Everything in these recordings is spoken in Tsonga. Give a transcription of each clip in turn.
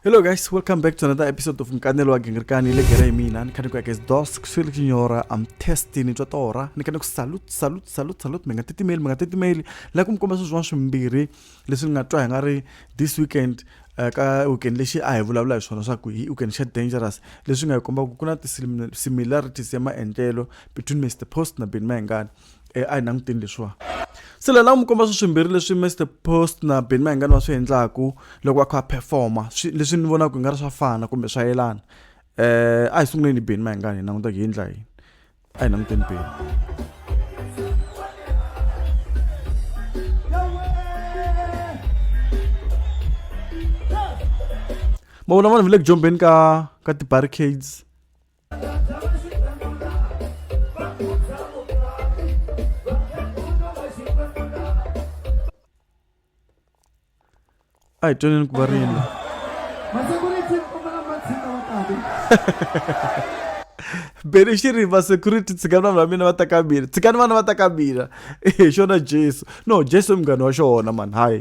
hello guys welcome back to another episode of mkanelo wa gengerkani le gere mina ni khani ku yakes dos ku swele kinyora am testing twa tora ni khani ku salute salute salute salute menga titimeli menga titimeli la ku mkomba swo swin'wana swimbirhi leswi nga twa hi nga ri this weekend eh, ka weekend lexi a hi vulavula hi swona swa ku hi weekend xa dangerous leswi nga hi kombaka ku na ti-similarities ya maendlelo between mr post na ben mayengani e a hi languteni leswiwa se la lava mi komba swi swimbirhi leswi mr post na ben mahingani va swi endlaku loko va kha va performa leswi ni vonaka hi nga ri swa fana kumbe swa yelana um a hi sunguleni ben mahingani hi languta hi endla yini a hi languteni ben ma vona vanhu va le ku jombeni ka ka ti-barricades ai toneni ku va rina beni xi ri vasecurity tshikani vanhu va mina va ta ka mina tshikani vana va ta ka mina hi xona jesu no jesu i munghana wa xona mani hayi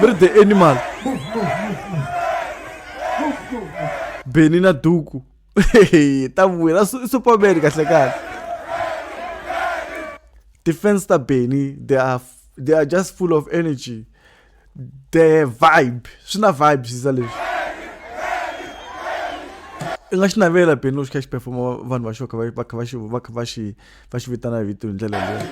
Birthday animal. Beni na duku. ta vuya la superman kahle kahle. Defense ta Beni they are they are just full of energy. The vibe. Swi na vibes za leswi. i nga xi navela beni loko xi kha xi performa vanhu va xo kha va kha va xi va kha va xi va xi vitana vito hi ndlela leyi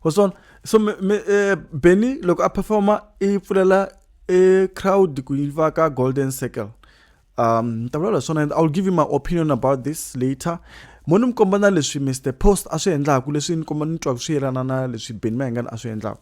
waswona so me, me, eh, benny loko a performa i pfulela i e crowd ku yi va ka golden circle um ni ta vulavula swona and i'll give you my opinion about this later mo ni mi komba na leswi mr post a swi endlaku leswi ni komba ni twaka swi yelana na leswi benny mayengani a swi endlaku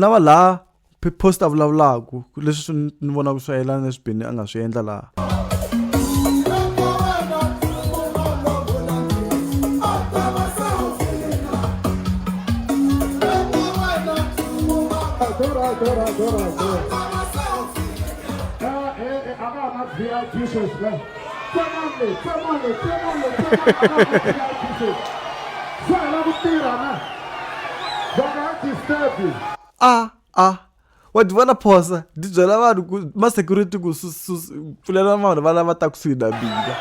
lava laha post a vulavulaka leswi swi ni vonaka swi yelana leswi bini a nga swi endla laha a a wa ti vona phosa ti byela vanhu ku ma-security ku pfulela vanhu va lava ta kusuhi na mina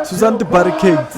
susani ti-barricades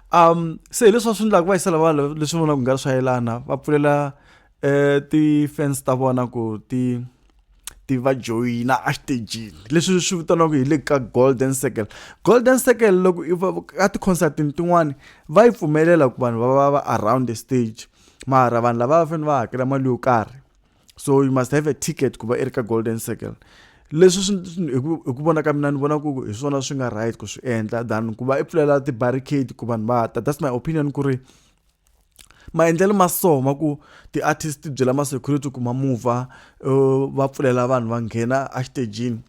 um se hi leswi swi endlaka va yisela vanhu leswi vona ku nga ri swa yelana va pfulela um ti-fans ta vona ku ti ti va joyina exitejini leswi swi vitaniwaka hi le ka golden circle golden circle loko i ka ti-concertini tin'wani va yi pfumelela ku vanhu va va va around the stage mara vanhu lava va fanele va hakela mali yo karhi so you must have a ticket ku va i ri ka golden circle leswi swi hi ku vona ka mina ni vona ku hi swona swi nga right ku swi endla than ku va i pfulela ti-barricade ku vanhu va ta that's my opinion ku ri maendlelo ma so ma ku ti-artist ti byela ma-security ku ma mova uh, va pfulela vanhu va nghena exitejini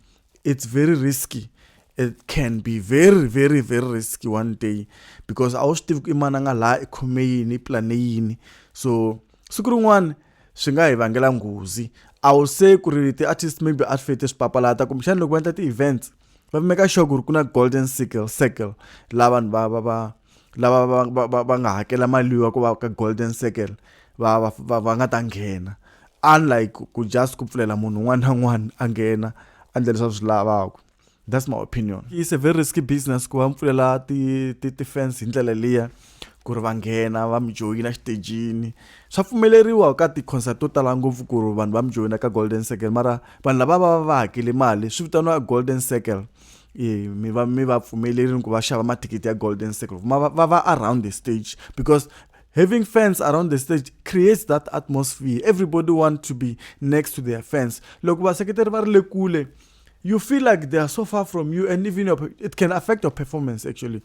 it's very risky it can be very very very risky one day because a wu swi tivi ku i mana nga laha i khome yini i plane yini so siku rin'wana swi nga hi vangela nghozi a wu se ku ri ti-artist maybe a swi fete swi papalata kumbexana loko va endla ti-events va make sure ku ri ku na golden circle circle laha vanhu va va va lava va va va va nga hakela mali ya ku va ka golden circle va va va va nga ta nghena unlike ku just ku pfulela munhu un'wana na un'wana a nghena a endla leswi a swi lavaka that's my opinion it's a very risky business ku va mpfulela ti ti ti fence hi ndlela liya ku ri va nghena va mi joyina xitejini swa pfumeleriwa ka ti-concert to tala ngopfu ku ri vanhu va mi joyina ka golden circle mara vanhu lava va va va hakele mali swi vitaniwa golden circle e, mi va mi va pfumelerini ku va xava mathikithi ya golden circle ma va va around the stage because having fans around the stage creates that atmosphere everybody want to be next to their fans loko vaseketeri va ri le kule you feel like they are so far from you and even your, it can affect your performance actually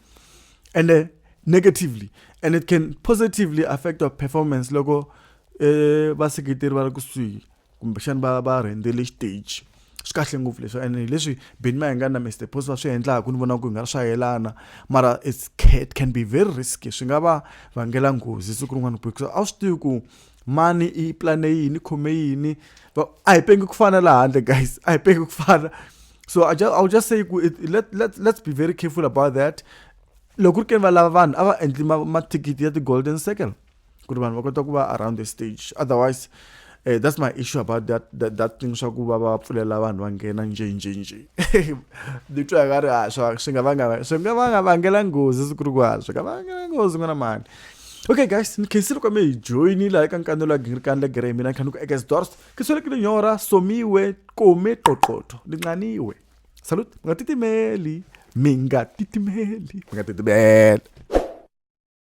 and uh, negatively and it can positively affect your performance loko eh, vaseketeri va ri kusuhi kumbexana va va rhendzele xiteji swi kahle ngopfu leswi and leswi beni ma hi nga na mr post va swi endlaka ni vona ku hi nga ri swa yelana mara it can be very risky swi nga va vangela nghozi siku rin'wana because a swi tivi ku mani i plane yini khome yini a hi pengi ku fana laha handle guys a hi pengi ku fana so I just, I'll just say ku let, let, let's be very careful about that loko ri ke va lava vanhu a va endli mathikithi ya ti-golden circle ku ri vanhu va kota ku va around the stage otherwise uh, that's my issue about that that, that thing swa ku va va pfulela vanhu va nghena nje nje nje ni twa nga ri a ah, swa swi nga vanga swi nga vanga vangela nghozi siku ri ku a ah, swi nga vangela nghozi n'wana mani okay guys ni khensile kwa mi hi joyinile hayi ka nkanelo ya gingirikani legere hi mina khanuku ekes dors ke swelekile nyora somiwe kome qoqotho ni nqaniwe salut mi nga titimeli mi nga titimeli mi nga titimeli